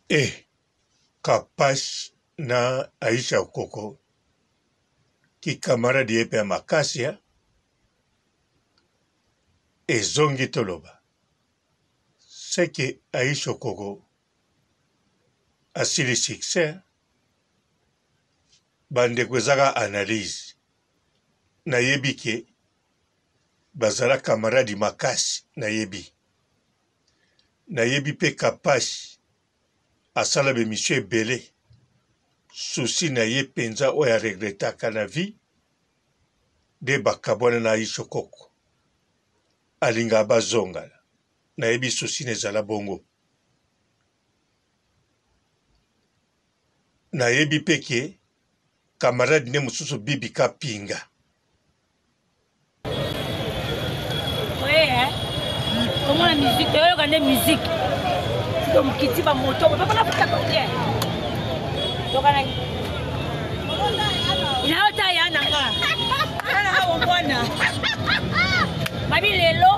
Eh, Kapash na Aisha Okoko kikamaradi ye mpe ya makasi ya ezongi toloba seke Aisha Okoko asili succès bandeko ezaka analyse nayebi ke bazala camarade makasi nayebi nayebi pe kapash asala ba emission ebele souci na ye penza oyo a regretaka na vie nde bakabwana na aisho koko alingaka bazongana nayebi souci na ezala bongo nayebi pe ke camarade ne mususu bibi kapinga komona musique toyoka nde musique to mokiti bamoto bapona kotako te tokanaki nayo ta ya nanga ananga bomwana babi lelo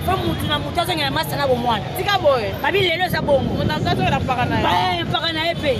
po motu na motu azongela masa na bomwana tika boye babi lelo eza bongo mpaka na ye mpe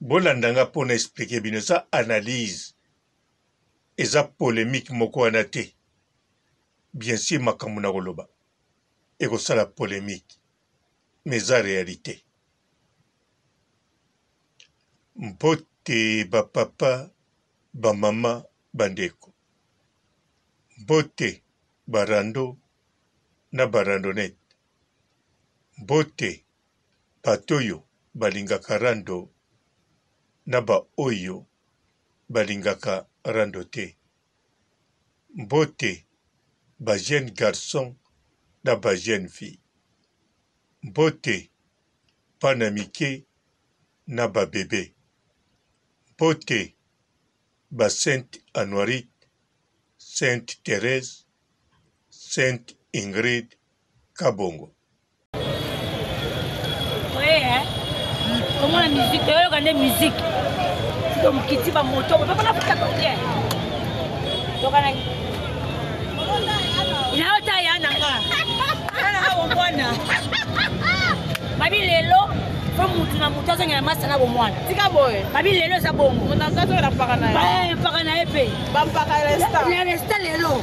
Bolanda nga po na expliquer bino eza analyse. Eza polemique moko wana te. Bien sur makambo na koloba ekosala polemique mais eza realite. Mbote ba papa, ba mama, ba ndeko. Mbote ba rando na ba randonnette. Mbote Bat'oyo balingaka rando na ba oyo balingaka rando te. Mbote ba jeunes garçons na ba jeunes filles. Mbote bana mike na ba bebes. Mbote ba sainte Anuarit, sainte Therèse, sainte Ingrid, Kabongo. komona musique toyoka nde musique to mokiti bamoto bapona kuta kote tokanaki nayo ta ya nanga ananga bomwana babi lelo po motu na motu azongela masa na bomwana tika boye babi lelo eza bongo mpaka na ye mpe na resta lelo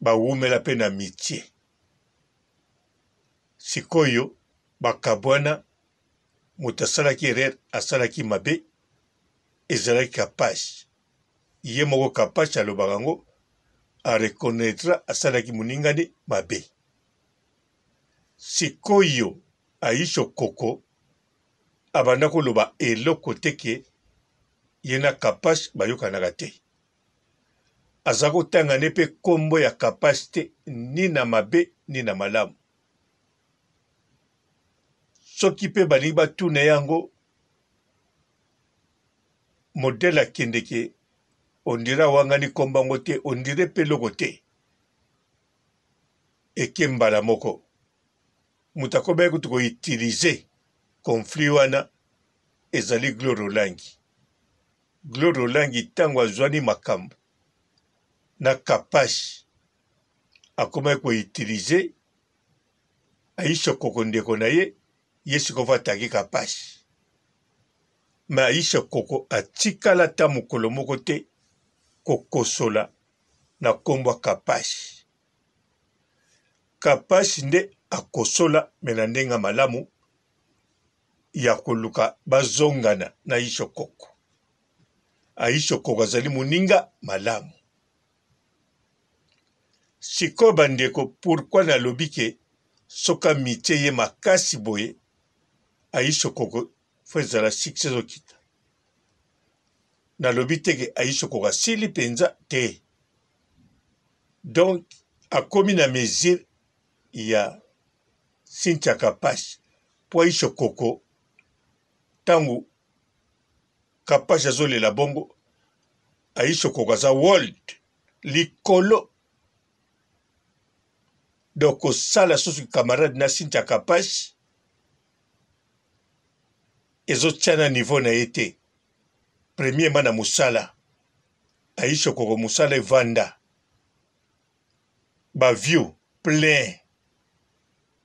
bawumela mpe na mitie. Sikoyo bakabwana, moto asalaki erreur, asalaki mabe, ezalaki Kapash. Ye moko Kapash alobaka yango, a reconnaitra asalaki moninga ne mabe. Sikoyo Aisho Koko abanda koloba eloko te ke ye na Kapash bayokanaka te. aza kotanga nde mpe nkombo ya kapash te ni na mabe ni na malamu soki mpe balingi batuna yango modele akendeke ondire awangani nkombo yango te ondire mpe eloko te eke mbala moko moto akobaki kutu koutilize konflit wana ezali glore olangi Gloire Olangi tango azuani makambu na kapash akomaki ko utiliser Aisha koko ndeko na ye ye sikoyo atake kapash mais Aisha koko atikala ata mokolo moko te kokosola na kombo ya kapash kapash nde akosola mais na ndenge ya malamu ya koluka bazongana na Ishokoko. A Ishokoko azali moninga malamu. Sikoyo bandeko, pourquoi nalobi ke soki amitie ye makasi boye, A Ishokoko faut ezala succès ezokita. Nalobi te ke A Ishokoko asili penza te. Donc akomi na mesure ya Cynthia Kapash po aisho koko tangu Kapash azolela bongo aisho koko aza world likolo donc kosala susu camarade na Cynthia Kapash ezotia na niveau na ye te premièrement na mosala aisho koko mosala evanda Ba view plein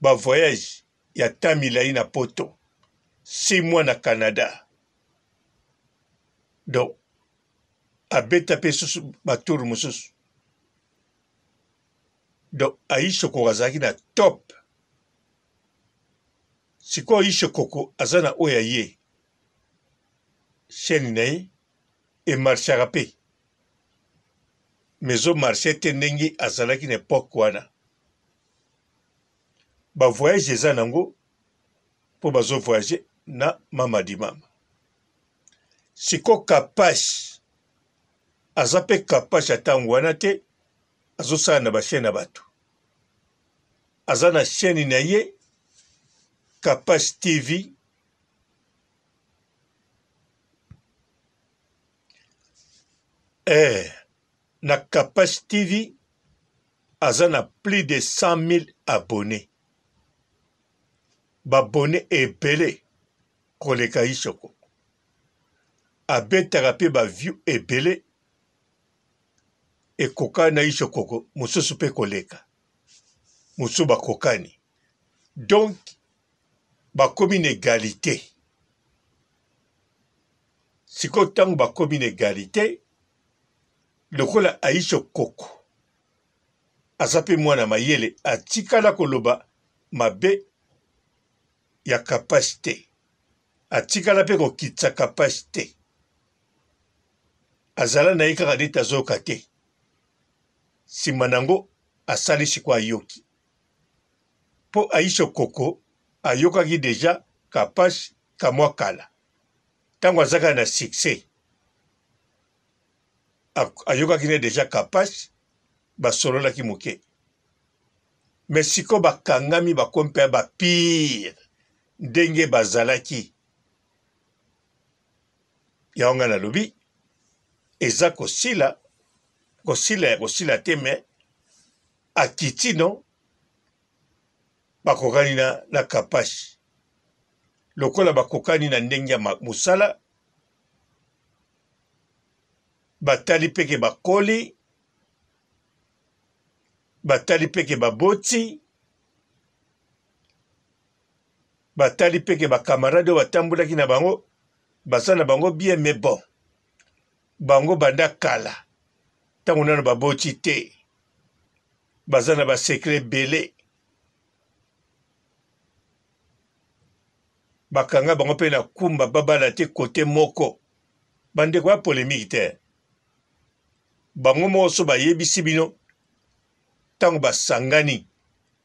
ba voyage ya temps milayi na poto six mois na Canada donc abeta pe susu ba tour mususu donc Aisha Koko azalaki na top sikoyo Aisha Koko aza na oyo ya ye chaîne na ye e marchaka pe mais ezo marche te ndenge azalaki na epoque wana ba voyage eza nango po bazo voyage na mama di mama siko kapash aza pe kapash ya ntango wana te azosala na bachaine ya bato aza na chaine na ye kapash tv eh, na kapash tv aza na plus de 100 000 abonne babone ebele koleka isoko abetaka mpe baview ebele ekoka na isokoko mosusu mpe koleka mosusu bakokani donc bakomi na egalite sikoyo ntango bakomi na egalite lokola aisha okoko aza mpe mwana mayele atikala koloba mabe ya kapashi te atikala mpe kokitisa kapashi te azala na ye kaka neti azoyoka te nsima na yango asali sikoyo ayoki po Aisha Okoko ayokaki dejà Kapash ka mwa kala tango azaka na succès ayokaki ne dejà Kapash ba sololaki moke mais siko ba kangami ba komi pe ba pire ndenge bazalaki yango nga nalobi eza kosila kosila ya kosila te mais akitino bakokani na, na Kapashi. Lokola bakokani na ndenge ya mosala, batali peke bakoli, batali peke baboti, batali peke bakamarade oyo batambolaki na bango, baza na bango bien, mais bon, bango banda kala, ntango nano baboti te, baza na ba secret ebele bakanga bango mpe na kumba babala te kote moko bandeko ya polemiki te bango moko so bayebisi bino ntango basangani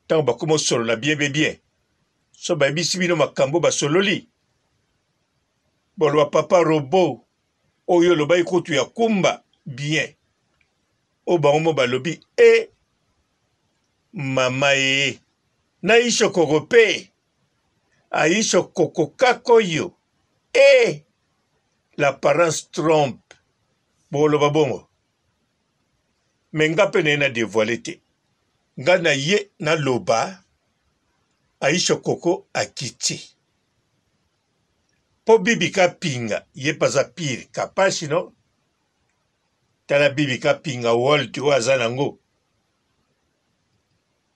ntango bakoma osolola bien be bien so bayebisi bino makambo basololi boloba papa robo Oyo olobaki kutu ya kumba bien oyo bango mo balobi e eh, mama ee eh. na isho koko pe aisho koko kako yo e eh, l'apparence trompe boloba bongo me nga mpe naye na devoile te nga na ye naloba aisha koko akiti po bibi kapinga ye paza pire kapashi no tala bibi kapinga world oyo aza nango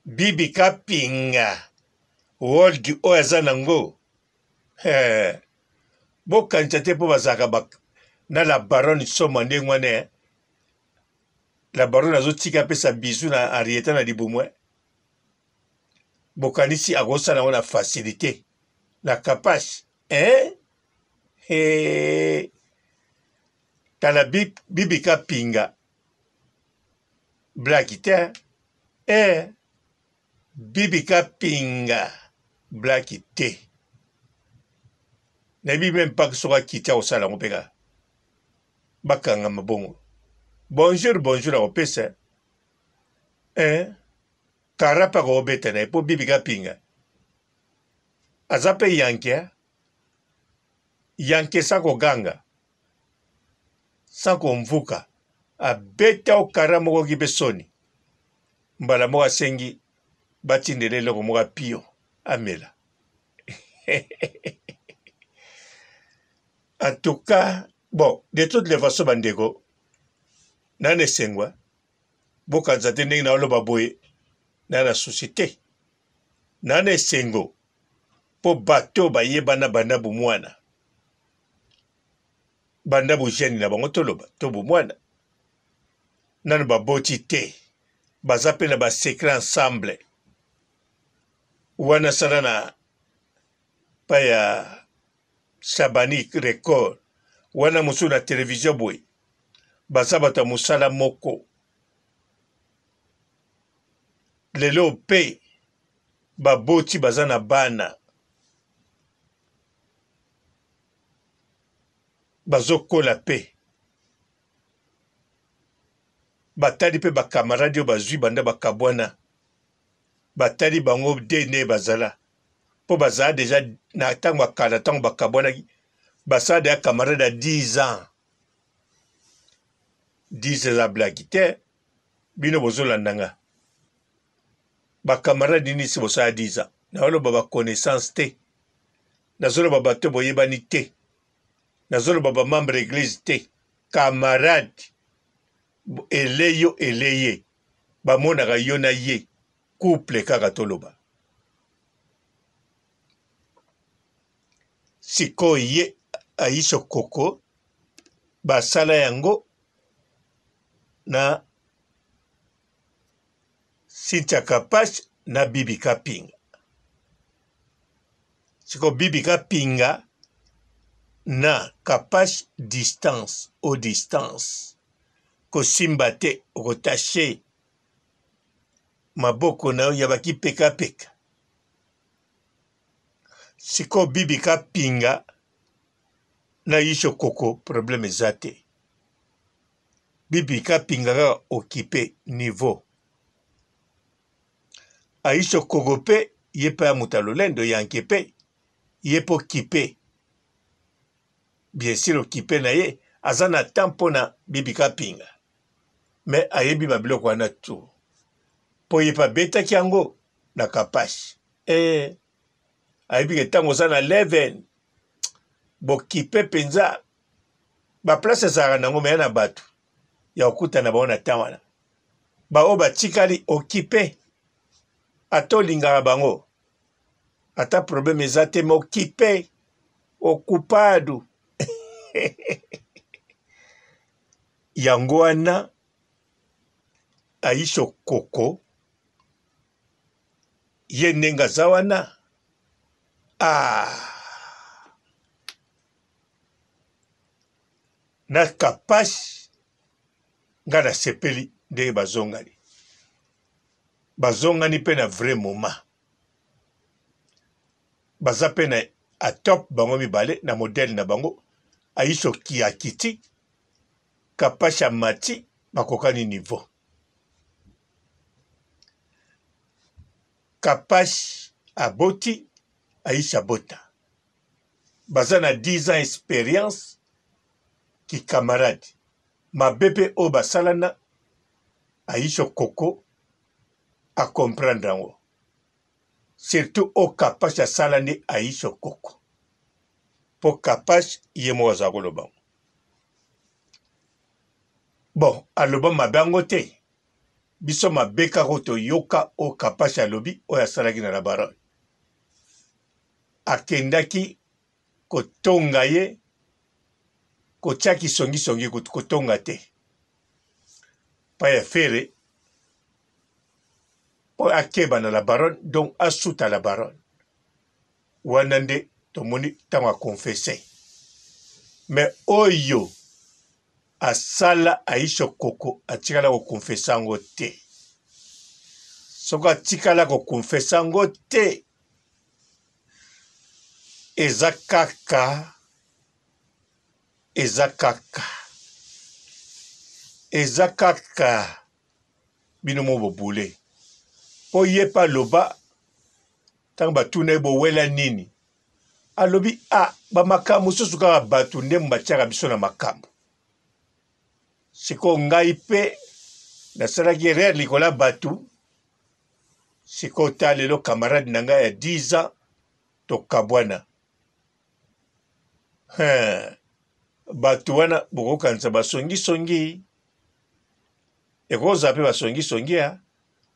bibi kapinga world oyo aza nango eh, bokanisa te po bazalaka ba, na la baronne soma ndenge wana eh. la baronne azotika apesa bizu na arieta na libumu eh. bokanisi akosala yango na facilité na kapash eh? Hey. tala bibi kapinga blaki te eh. bibi kapinga blaki te nayebi meme mpaka soki akiti akosala yango mpe kaka bakanga mabongo bonjour bonjour akopesa eh Kara pe ako beta na ye po Bibi Kapinga aza pe yanke hein yanke sans ko ganga sans ko mvuka abeta o Kara moko ki pe soni mbala moko asengi batindela eloko moko ya pio amela en tout cas bon de toutes les façons bandeko nana esengwa bokanisa te ndenge naoloba boye na na susi te na na esengo mpo bato oyo bayebana banda bomwana banda bojeni na bango toloba to bomwana nano baboti te baza mpe na basekre ensemble wana sala na pa ya Shabani record wana mosusu na television boye baza bato ya mosala moko lelo mpe baboti baza na bana bazokola mpe batali mpe bakamaradi oyo bazwi banda bakabwana batali bango dna bazala mpo bazala deja na ntango ya kala ntango bakabwanaki basala deja camarade ya 10 ans 10 eza blaki te bino bozolanda nga bakamarade nini si bosala 10 ans naoloba baconnaissance te nazoloba bato boyebani te nazoloba bamembre eglise te camarade eleyo eleye bamonaka yo na ye Couple kaka toloba. Sikoyo ye Aisha Koko basala yango na Cynthia Kapash na Bibi Kapinga. Sikoyo Bibi Kapinga na Kapash distance au distance kosimba te okotache maboko na yo ya bakipekapeka sikoyo bibi kapinga na yisho koko problème eza te bibi kapinga kaka okipe niveau ayisho koko mpe ye mpe ya moto ya lolendo yanke mpe ye mpe okipe bien sur okipe na ye aza na temps mpo na bibi kapinga me ayebi ba biloko wana tu po ye pe abetaki yango na kapash ee ayebi ke ntango oza na leven bokipe mpenza baplace ezalaka nango meya na bato ya kokutana bango na ntan wana baoyo batikali okipe ata olingaka bango ata probleme eza te me okipe okupadu Yango wana Aisho Koko ye ndenge aza wana ah. na kapashi nga nasepeli ndenge bazongani bazongani mpe na vrai moment baza mpe na atop bango mibale na modele na bango aiso kiakiti kapash amati bakokani niveau kapash aboti aisha bota baza na 10 ans experience kikamarade mabe mpe oyo basalana aisha koko akomprendre yango surtout oyo kapash asala nde aisha koko mpo kapash ye moko azala koloba yango Bon aloba mabe yango te biso mabe kaka oyo toyoka oyo kapashi alobi oyo asalaki na labarone akendaki kotonga ye kotyaki songisongi kutu kotonga te mpa ya fere mpo akeba na labarone donc asuta labarone Wana nde tomoni ntango akonfese. Me oyo asala Aisha Okoko atikala kokonfese yango te. Soki atikala kokonfese yango te, eza kaka eza kaka eza kaka bino moko bobule mpo ye mpe aloba ntango batuna ye bowela nini alobi a ah, bamakambo mosusu kaka bato nde batiaka biso na makambo sikoyo ngai mpe nasalaki erreur likolo ya bato sikoyo ta lelo camarade na ngai ya 10 ans tokabwana bato wana bokokanisa basongisongi songi. Ekozala pe ba songi songi ya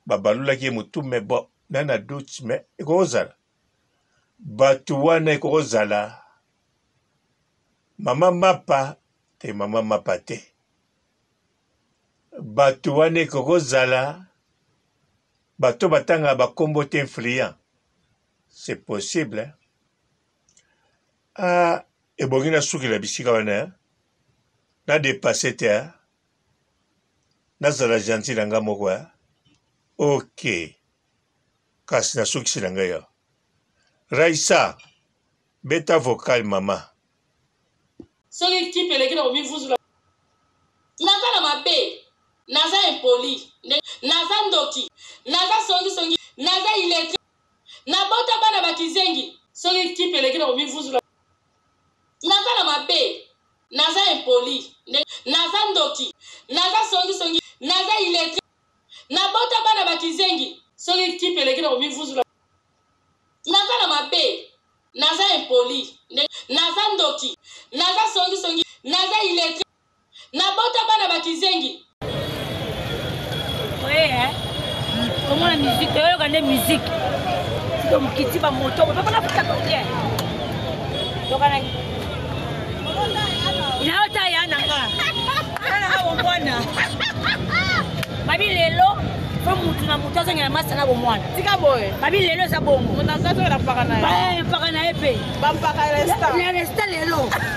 ba balolaki ye mutu mais bon na na doute mais ekozala batu wana ekozala mama mapa te mama mapa te batu wana ekozala bato batanga ba kombo te influent c'est possible hein? Ah ebongi na suki na bisika wana hein? na depasse te hein? nazala gentil na nga moko hein? ok kasi na sukisi na ngai awa raisa beta vocal mama soki kipe eleki na komivuzula naza na mabe naza impoli naza ndoki naza songisongi naza iletre Na bota bana ba kizengi. Soki kipe eleki na komivuzula. Naza na mabe Naza impoli nde Naza ndoki Naza songi songi Naza illettre Na bota bana ba kizengi. Soki kipe eleki na komivuzula. Naza na mabe Naza impoli nde Naza ndoki Naza songi songi Naza illettre Na bota bana ba kizengi. Oye hein. Komona musique, oyo kande musique. Tito mukiti ba moto, ba bana puta ko bien. Yoka na. Ina ota ya na nga. Ana ha wo mwana. Babi lelo po mutu na mutu azongela masa na bomwana tika boye babi lelo eza bongo moto azo azongela mpaka na ye mpaka na ye mpe bampaka ya resta lelo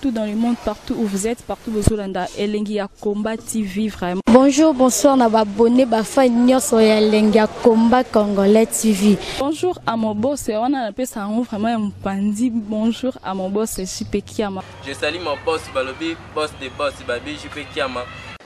tout dans le monde partout où vous êtes partout bozolanda elengi ya combat tv vraiment bonjour bonsoir na babone bafai nyonso ya elengi ya combat congolais tv bonjour à mon boss wana napesa yango vraiment ya mopanzi bonjour à mon boss jp kiama je sali mon boss balobi boss de boss babi jp kiama